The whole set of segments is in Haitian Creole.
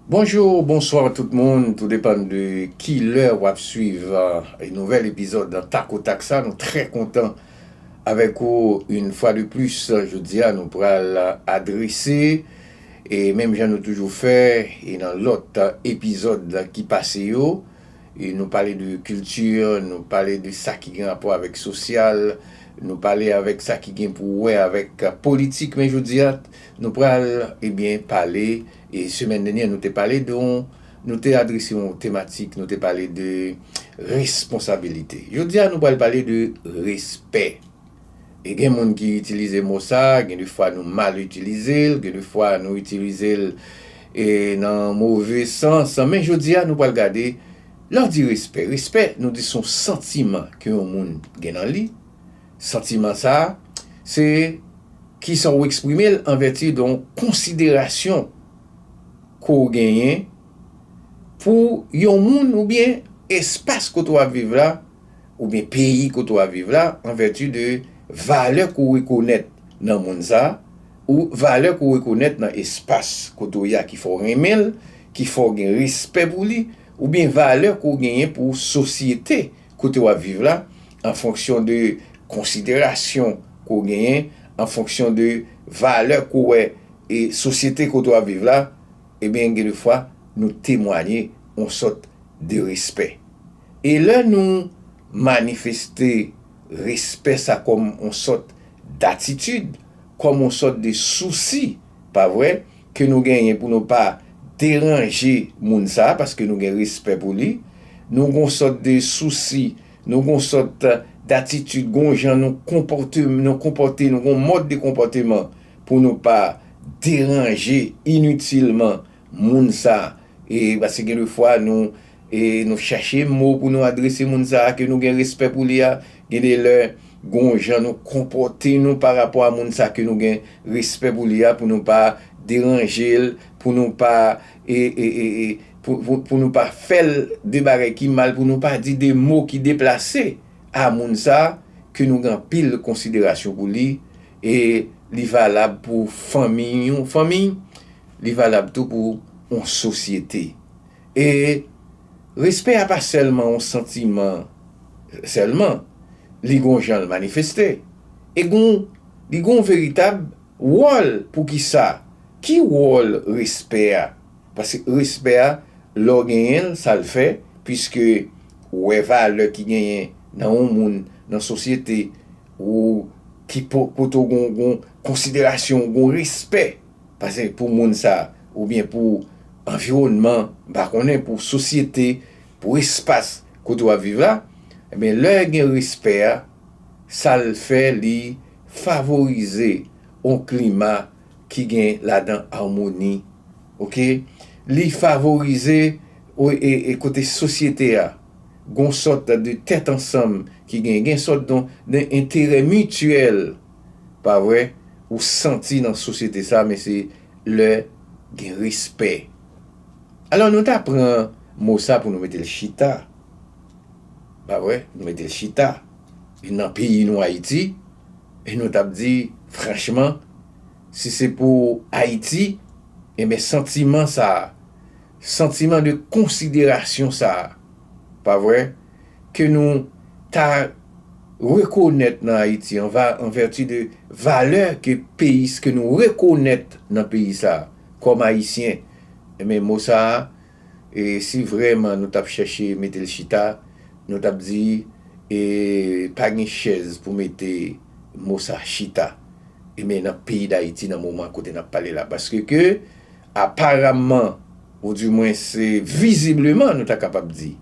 Bonjour ou bonsoir tout moun tou depan de kilè wap swiv nouvèl epizòd takotak sa nou trè kontan avèk ou yn fwa de plis jodia nou pral adrese e menm jan nou toujou fè e nan lòt epizòd ki pase yo e nou pale de kilti nou pale de sa ki gen rapò avèk sosyal nou pale avèk sa ki gen pou wè avèk politik men jodia nou pral ebyen pale E semèn dènyè nou te pale de yon, nou te adrese yon tematik, nou te pale de responsabilite. Jodi a nou pral pale de respè. E gen moun ki itilize mo sa, gen de fwa nou mal itilize l, gen de fwa nou itilize l e nan move sans. Men jodi a nou pral gade, lè w di respè, respè nou di son santiman ke yon moun gen nan li. Santiman sa a, se kisan ou eksprime l anvèti de yon konsiderasyon ke w genyen pou yon moun oubyen espas kote w ap viv la oubyen peyi kote w ap viv la anvèti de valè ke w rekonèt nan moun sa a ou valè ke w rekonèt nan espas kote w ye a ki fè w renmen l, ki fè w gen respè pou li oubyen valè ke w genyen pou sosyete. kote wap viv la, an fonksyon de konsiderasyon ke w genyen, an fonksyon de valè ke w wè e sosyete kote wap viv la, ebyen gen de fwa nou temwanye yon sòt de respè. E lè nou manifeste respè sa kòm yon sòt datitid, kòm yon sòt de sousi, pa vre? ke nou genyen pou nou pa deranje moun sa paske nou gen respè pou li, nou gon sòt de sousi, nou gon sòt datitid, gon jan nou konpòte, nou konpòte, nou gon mòd de konpòteman pou nou pa deranje initilman moun sa. E paske gen de fwa nou nou chache mo pou nou adrese moun sa a ke nou gen respè pou li a, gen de lè gon jan nou konpòte nou pa rapò a moun sa ke nou gen respè pou li a pou nou pa deranje l, pou nou pa e e e e pou nou pa fè l de bagay ki mal, pou nou pa di de mo ki deplase a moun sa a ke nou gen anpil konsiderasyon pou li e li valab pou fanmiy yon fanmiy li valab tou pou yon sosyete. E respè a pa sèlman yon santiman sèlman, li gen yon jan l manifeste. E gen yon, li gen yon veritab wòl. Poukisa? Ki wòl respè a? Paske respè a, lè w genyen l, sa l fè, piske ou wè valè ki genyen nan yon moun, nan sosyete, ou, ki kote w gen yon konsiderasyon, gen yon respè. Pase pou moun sa oubyen pou anviwònman, m pa konnen, pou sosyete, pou espas kote w ap viv la, enben lè gen respè a, sa l fè li favorize yon klima ki gen ladan amoni, oke, li favorize e kote sosyete a gen yon sòt de tèt ansanm ki gen, gen yon sòt de enterè mityèl. Pa vre? Ou santi nan sosyete sa men se lè gen respè. Alò nou ta pran mo sa pou nou mete l chita. Pa vre? Nou mete l chita nan peyi nou Ayiti e nou t ap di franchman si se pou Ayiti enben santiman sa, santiman de konsiderasyon sa, pa vre? ke nou ta rekonèt nan Ayiti an va an vèti de valè ke peyi s ke nou rekonèt nan peyi sa a kòm Ayisyen enben mo sa a e si vrèman nou t ap chèche mete l chita nou t ap di e pa gen chèz pou mete mo sa chita enben nan peyi Dayiti nan moman kote n ap pale la paske ke aparamman ou di mwens vizibleman nou ta kapab di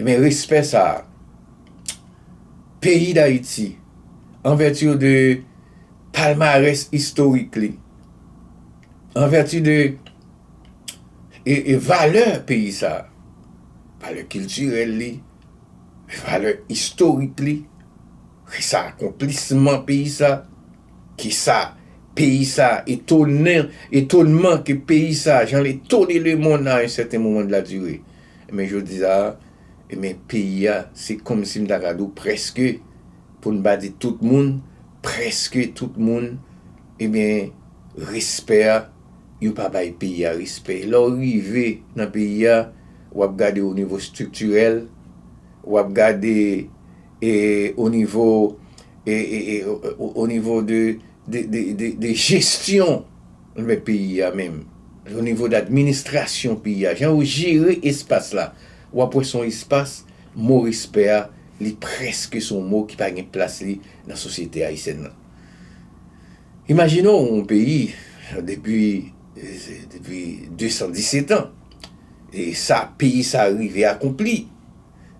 Ebyen respè sa a peyi Dayiti an vèti de palmarès istorik li, an vèti de valè peyi sa a, valè kiltirèl li, valè istorik li, ki sa akonplisman peyi sa, ki sa peyi sa etonnen, etonman ke peyi sa jan l etone lemonn a yon sèten moman de la dire. Enben jodi a, enben peyi a, se kòmsi m ta ka di w prèske, pou n pa di tout moun, prèske tout moun, enben respè a, yo pa bay peyi a respè. Lè w rive nan peyi a, w ap gade onivo estriktirèl, w ap gade e onivo e e e onivo de de de de jesyon. Anbè peyi a menm, o nivo d'administrasyon peyi a, jan yo jere espas la, w ap wè se yon espas, mo respè a, li prèske se yon mo ki pa gen plas li nan sosyete ayisyèn nan. Imajine w yon peyi, depi 217 an, e sa peyi sa rive akonpli,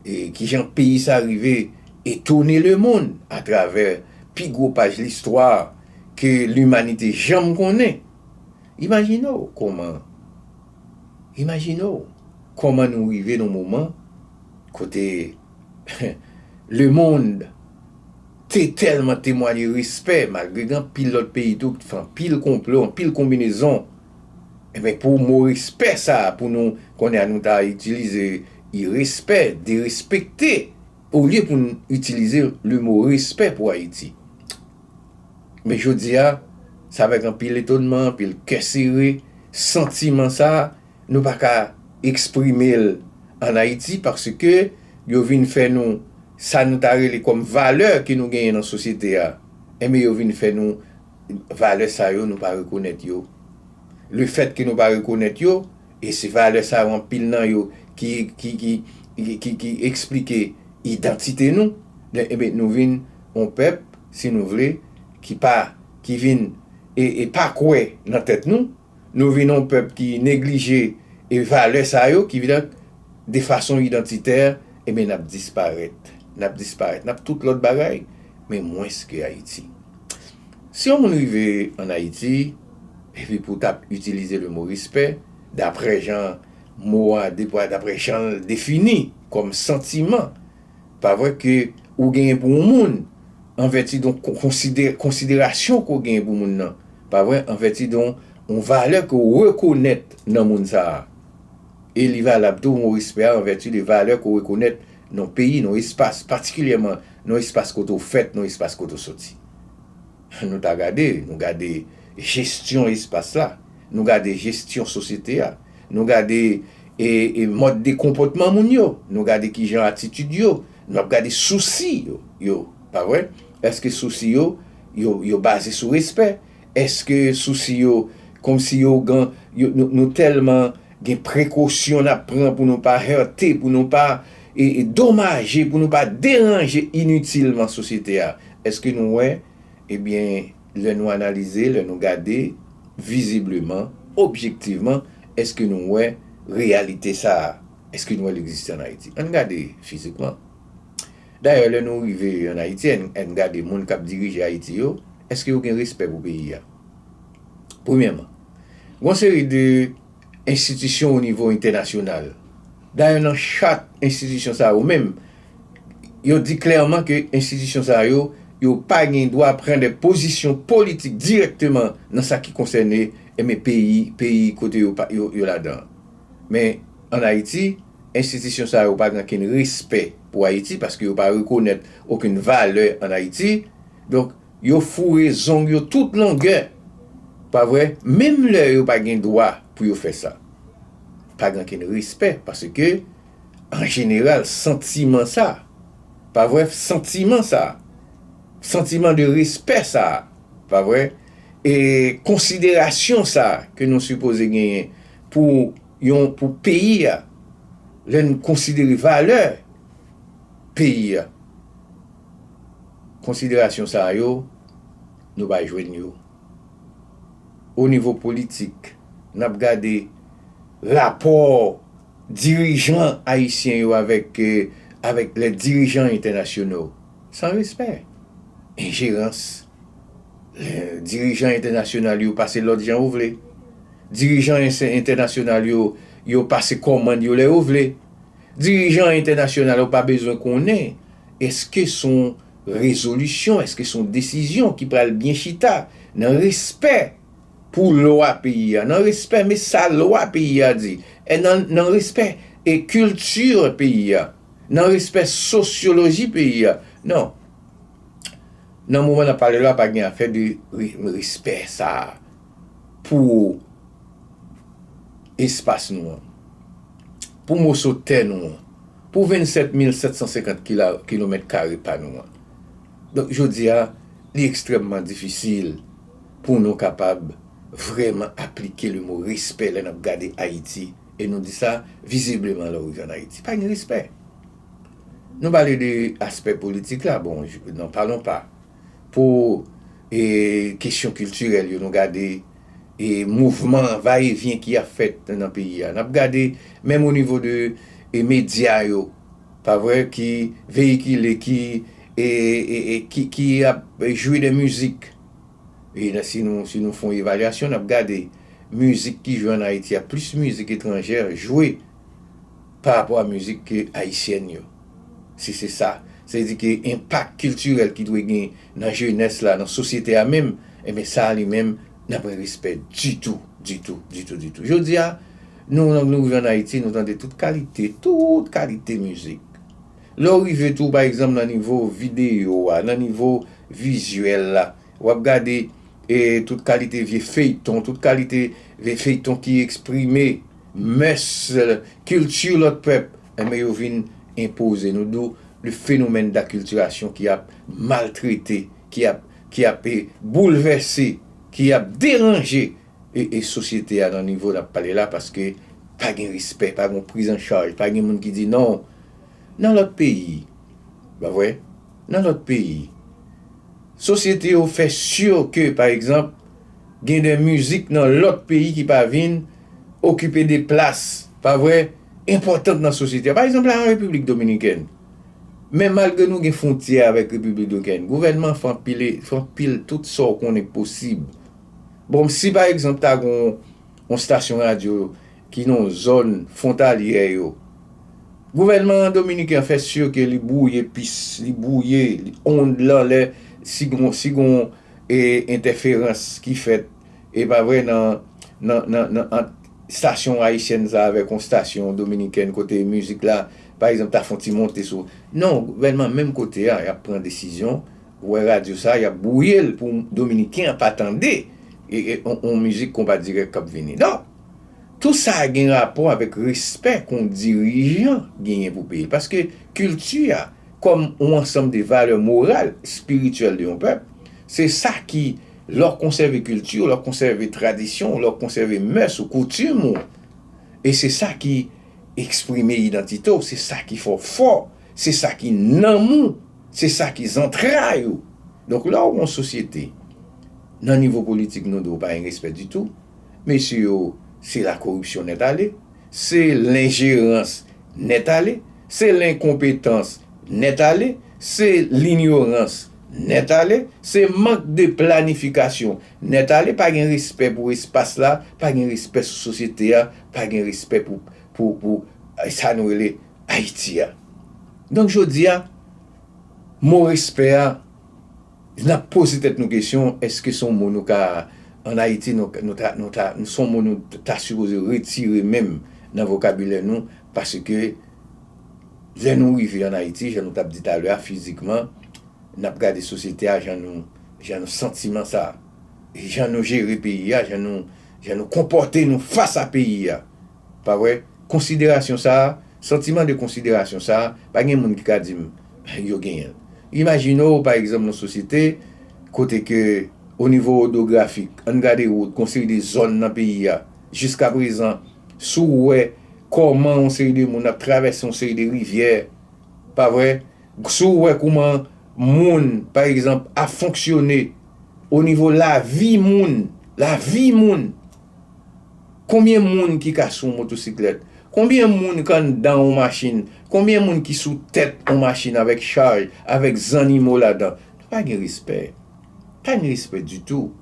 e kijan peyi sa rive etone lemonn atravè pi gwo paj listwa ke limanite janm konnen. Imajine w kòman Imajine w kòman nou rive nan moman kote lemonn te tèlman temwanye respè malgre gen anpil lòt peyi tou ki t fè anpil konplo, anpil konbinezon. Ebyen pou mo respè sa pou nou konnen an nou ta itilize irespè, derespekte olye pou n itilize le mo respè pou Ayiti. Men jodi a, se avèk anpil etonman, anpil kè sere, santiman sa nou pa ka eksprime l an Ayiti paske yo vin fè nou sa nou ta rele kòm valè ke nou genyen nan sosyete a, enben yo vin fè nou Valè sa yo nou pa rekonèt yo. Le fèt ke nou pa rekonèt yo, e se valè sa yo anpil nan yo ki ki eksplike idantite nou, enben nou vin yon pèp, si nou vle, ki pa, ki vin e pa kwè nan tèt nou. Nou vin yon pèp ki neglije e valè sa yo ki vin de fason idantitè enben nap disparèt, nap disparèt, nap tout lòt bagay men mwens ke Ayiti. Si yon moun rive an Ayiti epi pou tap itilize le mo respè daprè jan mo a daprè janl defini kòm santiman. Pa vre ke ou genyen pou yon moun, an vèti don konsiderasyon ke w genyen pou moun nan, pa vre, an vèti don yon valè ke w rekonèt nan moun sa a. E li valab tou, mo respè a, an vèti de valè ke w rekonèt nan yon peyi, nan yon espas, patikilyèman nan yon espas kote w fèt, nan yon espas kote w soti. Nou ta gade, nou gade jestyon espas la, nou gade jestyon sosyete a. Nou gade mòd de konpòtman moun yo. Nou gade ki jan atitid yo. Nou ap gade sousi yo. Pa vre? Èske sousi yo, yo baze sou respè? Èske sousi yo kòm si yo gan, nou tèlman gen prekosyon n ap pran pou nou pa hète, pou nou pa domaje, pou nou pa deranje initilman sosyete a? Èske nou wè, ebyen, Lè nou analize, lè nou gade, vizibleman, objektivman, èske nou wè reyalite sa a? Èske nou wè l egziste ann Ayiti? Ann gade fizikman. Dayè, lè nou rive ann Ayiti, ann gade moun k ap dirije Ayiti yo, èske yo gen respè pou peyi a? Premyèman, gon seri de enstitisyon onivo entènasyonal. Dayè nan chat enstitisyon sa yo menm, yo di klèman ke enstitisyon sa yo, yo pa gen dwa pran de pozisyon politik dirèkteman nan sa ki konsène enben peyi, peyi kote yo pa, yo ladan. Men, ann Ayiti, enstitisyon sa yo pa gen okenn respè pou Ayiti, paske yo pa rekonèt okenn valè ann Ayiti. Donk, yo foure zong yo tout longè, pa vre, menm lè yo pa gen dwa pou yo fè sa. Pa gen okenn respè, paske. an jeneral santiman sa pa vre santiman sa santiman de respè sa pa vre e konsiderasyon sa ke nou sipoze genyen pou yon pou peyi a lè n konsidere valè peyi a konsiderasyon sa yo nou pa jwenn yo o nivo politik n ap gade rapò Dirijan ayisyen yo avèk avèk lè dirijan entènasyono san respè, enjerans, lè dirijan entènasyonal yo pase lòd jan yo vle, dirijan entènasyonal yo yo pase kòmand yo lè yo vle, dirijan entènasyonal yo pa bezwen konnen èske son rezolisyon, èske son desizyon ki pral byen chita nan respè Pou lwa peyi a. Nan respè me sa lwa peyi a di. E nan nan respè e kilti peyi a. Nan respè sosyoloji peyi a. Non. Nan moman n ap pale la pa gen afè de respè sa a pou espas nou an. Pou moso tè nou an. Pou 27 mil 750 kila kilomèt kare pa nou an. Donk jodi a li ekstrèmman difisil. pou nou kapab vrèman aplike le mo respè lè n ap gade Ayiti e nou di sa vizibleman lè w rive ann Ayiti. Pa gen respè. Nou pale de aspè politik la, bon, n'en parlons pas. Pou kesyon kiltirèl yo nou gade e mouvman va e vyen ki ap fèt nan peyi a. N ap gade menm o nivo de medya yo, pa vre, ki veyikile, ki ap jwe de mizik. E si nou si nou fon evalyasyon nap gade mizik ki jwe an Ayiti a plis mizik etranjè jwe pa rapò a mizik ke ayisyèn yo. Si se sa, sa vle di ke enpak kiltirèl ki dwe gen nan jenès la, nan sosyete a menm, enben sa li menm nan pwen respè ditou, ditou, ditou, ditou. Jodi a nou nou rive an Ayiti nou tande tout kalite, tout kalite mizik. Lè w rive tou pa egzanp nan nivo videyo a, nan nivo vizyèl la, w ap gade tout kalite vye feyton, tout kalite vye feyton ki eksprime mès, kilti lòt pèp, enben yo vin enpoze nou. D'où le phénomène d'acculturation ki ap maltrete, ki ap, ki ap boulvèse, ki ap deranje sosyete a nan nivo n ap pale la paske pa gen respè, pa gen yon prizanchaj, pa gen moun ki di non. Nan lòt peyi, pa vre? Nan lòt peyi, sosyete yo fè si ke, pa egzanp, gen de mizik nan lòt peyi ki pa vin okipe de plas, pa vre, enpòtan nan sosyete a. Pa egzanp la, an Repiblik Dominikèn, men malgre nou gen fwontyè avèk Repiblik Dominikèn, gouvènman fè anpil, fè anpil tout sa ou konnen k posib. Bon, si pa egzanp ta gen yon stasyon radyo, ki nan zòn fwontalyè yo. Gouvènman dominiken an fè si ke li bwouye pis, li bwouye ond lan lè si gon si gon entèferans ki fèt e pa vre nan nan nan ant stasyon ayisyèn sa avèk yon stasyon dominikèn kote mizik la pa egzanp ta fon ti monte sou non gouvènman menm kote a yap pran desizyon ou wè radyo sa yap bwouye l pou dominiken an pa tande yon mizik konpa dirèk kap vini non. Tout sa a gen rapò avèk respè kon dirijan genyen pou peyi l. Paske kilti a, kòm on ansanm de valè moral, espirityèl de yon pèp, se sa ki, lè w konsève kilti w, lè w konsève tradisyon w, lè w konsève mès ou, koutim ou, e se sa ki eksprime idantite w, se sa ki fè w fò, se sa ki nanm ou, se sa ki zantray ou. Donk lè w gen yon sosyete, nan nivo politik nou di w pa gen respè ditou, Mesye yo se lakoripsyon nèt ale, se lenjerans nèt ale, se lenkonpetans nèt ale, se linyorans nèt ale, se mank de planifikasyon nèt ale, pa gen respè pou espas la, pa gen respè sou sosyete a, pa gen respè pou sa nou rele Ayiti a. Donk jodi a, mo respè a. N ap poze tèt nou kesyon, èske se yon mo nou ka, ann Ayiti, nou ta, nou ta, se yon mo nou ta sipoze retire menm nan vokabilè nou, paske lè nou rive ann Ayiti, jan nou t ap di talè a, fizikman, n ap gade sosyete a, jan nou, jan nou santiman sa, jan nou jere peyi a, jan nou, jan nou konpòte nou fas a peyi a. Pa vre? Konsiderasyon sa a, santiman de konsiderasyon sa a, pa gen moun ki ka di m yo genyen l. Imajine w, pa egzanp, yon sosyete kote ke onivo odografik, ann gade wout, gon seri de zòn nan peyi a, jiska prezan, si w wè kòman yon seri de moun ap travèse yon seri de rivyè, pa vre? Si w wè kouman moun, pa egzanp, ap fonksyone onivo lavi moun, lavi moun! Konbyen moun ki ka sou yon motosiklèt? Konbyen moun k anndan yon machin? Konbyen moun ki sou tèt yon machin avèk chaj, avèk zannimo ladan? Nou pa gen respè. Pa gen respè ditou.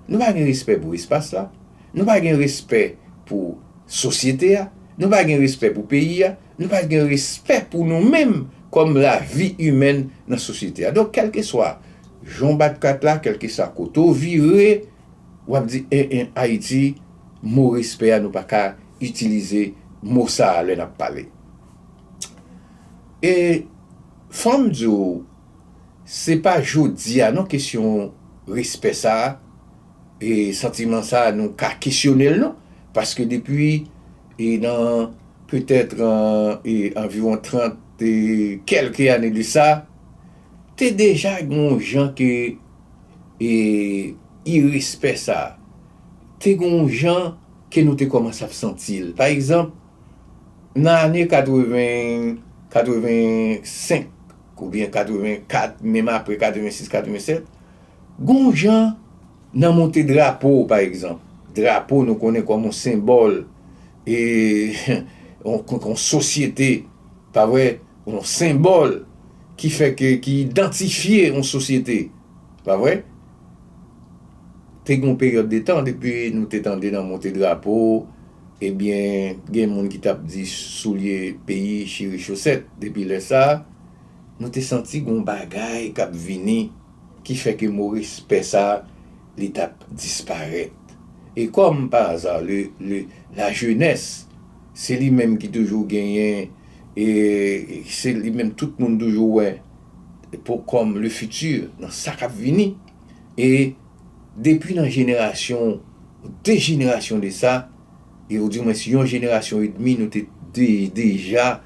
Nou pa gen respè pou espas la. Nou pa gen respè pou sosyete a. Nou pa gen respè pou peyi a. Nou pa gen respè pou nou menm kòm lavi imèn nan sosyete a. Donk kèlkeswa jan w bat kat la, kèlkeswa kote w vire, Wap di en en Haiti mo respè a nou pa ka itilize mo sa lè nap pale. E fom di w se pa jodi a non kesyon respè sa e santiman sa nou ka kesyone l non paske depi e nan petèt e anviwon 30 e kelke ane de sa te deja gen yon jan ke e irespè sa a, te gen yon jan ke nou te kòmanse ap santi l. Pa egzanp, nan ane 80, 85 oubyen 84, menm apre 86, 87, gen yon jan nan monte drapo, pa egzanp, drapo nou konnen kòm yon senbòl e yon sosyete, pa vre, yon senbòl ki fè ke, ki idantifye yon sosyete, pa vre? Te gen yon peryòd de tan depi nou te tande nan monte drapo, ebyen gen moun ki tap di soulye peyi chire chosèt, depi lè sa, nou te santi gen yon bagay kap vini ki fè ke mo respè sa li tap disparèt. E kòm pa aza le, le, la jenès se li menm ki toujou genyen. E se li menm tout moun toujou wè pou kòm le futur nan sa kap vini. E depi nan jenerasyon, de jenerasyon de sa, e ou di mwen si yon jenerasyon e demi nou te deja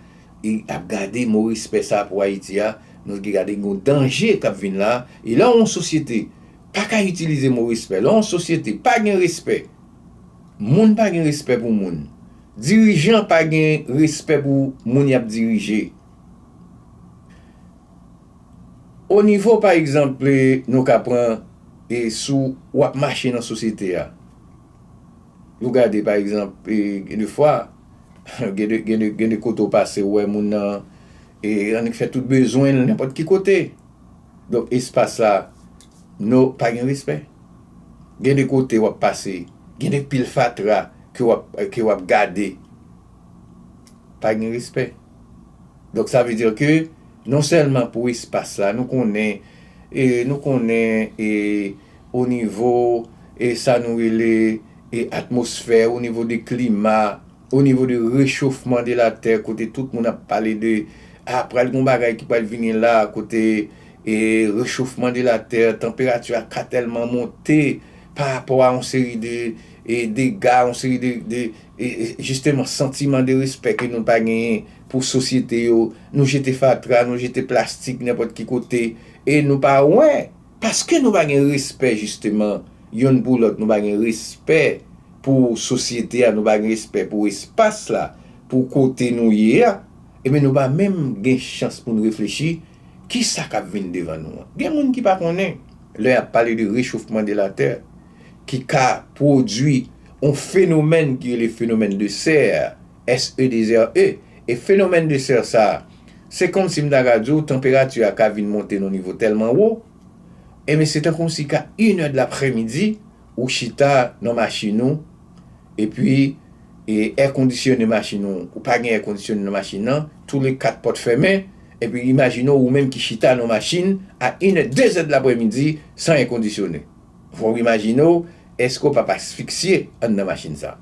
e ap gade mo respè sa pou Ayiti a, nou te gade yon danje kap vin la. E lè yon sosyete pa ka itilize mo respè, lè yon sosyete pa gen respè, moun pa gen respè pou moun, Dirijan pa gen respè pou moun yap dirije o nivo pa egzanp nou ka pran sou wap mache nan sosyete a ou gade pa egzanp gen de fwa gen de kote ou pase ou wè moun nan annik fè tout bezwen nenpòt ki kote donk espas la No pa gen respè. Gen de kote wap pase, gen de pil fatra ke wap gade. Pa gen respè. Donk sa vle di ke non sèlman pou espas la, nou konnen, nou konnen e o nivo e sa nou rele e atmosfè, o nivo de klima. O nivo de rechofman de la tè kote tout moun ap pale de ah pral gon bagay ki pral vini la kote e rechofman de la tè tanperati a ka tèlman monte pa rapò a yon seri de e dega yon seri de de e jisteman santiman de respè ke nou pa genyen pou sosyete yo nou jete fatra nou jete plastik nenpòt ki kote e nou pa wè Paske nou pa gen respè jisteman yonn pou lòt, nou pa gen respè pou sosyete a, nou pa gen respè pou espas la, pou kote nou ye a, enben nou pa menm gen chans pou n reflechi ki sa k ap vin devan nou an. Gen moun ki pa konnen lè y ap pale de rechofman de la tè ki ka pwodui yon fenomèn ki rele fenomèn de sè SEDESERE, E fenomèn de serre sa a? Se kòmsi m ta ka di w tanperati a ka vin monte nan nivo tèlman wo, enben se tankou si ka inè de lapremidi ou chita nan machin ou epi e èkondisyone machin ou, ou pa gen èkondisyone nan machin nan, tou le kat pòt fèmen, epi imajine w ou menm ki chita nan machin a inè, dezè de lapremidi san èkondisyone. Fò w imajine w èske w pa p asfiksye anndan machin sa.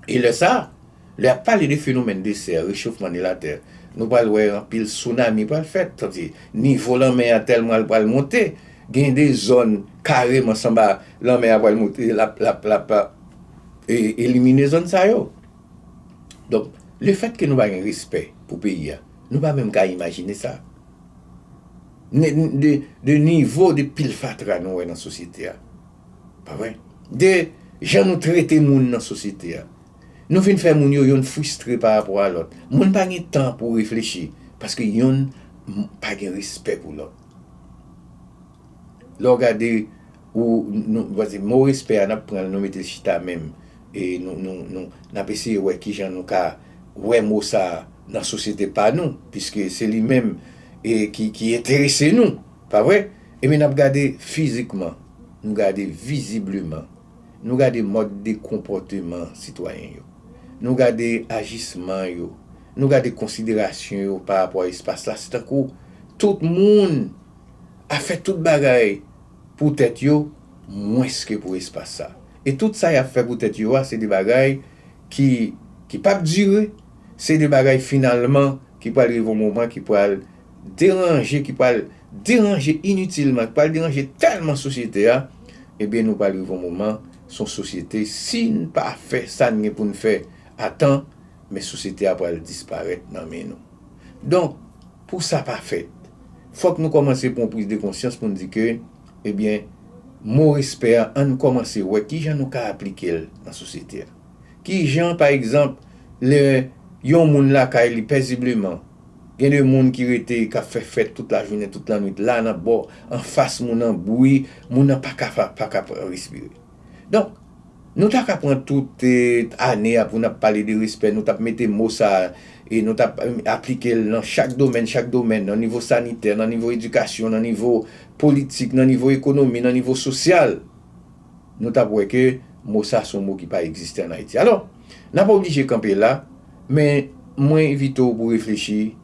E lè sa, lè y ap pale de fenomèn de sè, rechofman de latè, nou pral wè anpil sounami pral fèt, sa vle di nivo lanmè a tèlman l pral monte, gen de zòn kareman sanba lanmè a pral monte l ap elimine zòn sa yo. Donk, lefètke nou pa gen respè pou peyi a, nou pa menm ka imajine sa. De nivo de pil fatra nou wè nan sosyete a. Pa vre? De jan nou trete moun nan sosyete a. Nou vin fè moun yo yonn fristre pa rapò a lòt. Moun pa gen tan pou reflechi paske yonn pa gen respè pou lòt. Lè w gade ou, nou, mo respè a n ap pran l nou mete l chita menm e nou nou nou n ap eseye wè ki jan nou ka wè mo sa a nan sosyete pa nou piske se li menm e ki ki enterese nou, pa vre? Enben n ap gade fizikman, nou gade vizibleman, nou gade mòd de konpòteman sitwayen yo, nou gade ajisman yo, nou gade konsiderasyon yo pa rapò a espas la, se tankou tout moun ap fè tout bagay pou tèt yo mwens ke pou espas sa. e tout sa y ap fè pou tèt yo a se de bagay ki ki p ap dire, se de bagay finalman ki pral rive yon moman ki pral deranje, ki pral deranje initilman, ki pral deranje tèlman sosyete a, ebyen nou pral rive yon moman se yon sosyete si n pa fè sa n gen pou n fè a tan, men sosyete a pral disparèt nan men nou. Donk, pou sa pa fèt, fòk nou kòmanse pran yon priz de konsyans pou n di ke Ebyen, mo respè a ann kòmanse wè kijan nou ka aplike l nan sosyete a. Kijan pa egzanp lè yon moun lakay li pèzibleman, gen de moun ki rete k ap fè fèt tout lajounen, tout lannwit la nan bò anfas moun nan, bwi moun nan pa ka pa ka respire. Donk, nou ta ka pran tout ane a pou n ap pale de respè, nou t ap mete mo sa a e nou t ap aplike l nan chak domèn, chak domèn, nan nivo sanitè, nan nivo edikasyon, nan nivo politik, nan nivo ekonomi, nan nivo sosyal, nou t ap wè ke mo sa a se yon mo ki pa egziste ann Ayiti. Alò, n a pa oblije kanpe la, men mwen envite w pou w reflechi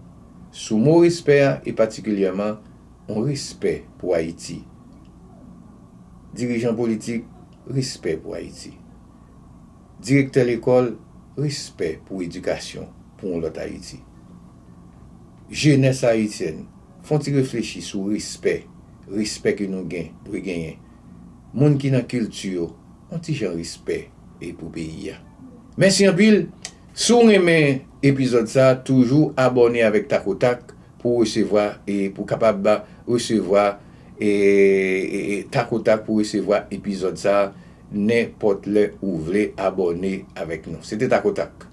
sou mo respè a e patikilyèman, On respè pou Ayiti. Dirijan politik, respè pou Ayiti. Direktè lekòl, respè pou edikasyon, pou on lòt Ayiti. Jenès ayisyèn, f'on ti reflechi sou respè, respè ke nou gen, dwe genyen. Moun ki nan kilti yo, on ti jan respè e pou peyi a. Mèsi anpil! Si w renmen epizòd sa, toujou abòne avèk Takotak. pou resevwa e pou kapab resevwa e tak o tak pou resevwa epizòd sa nen pòt lè ou vle abòne avèk nou se te tak o tak.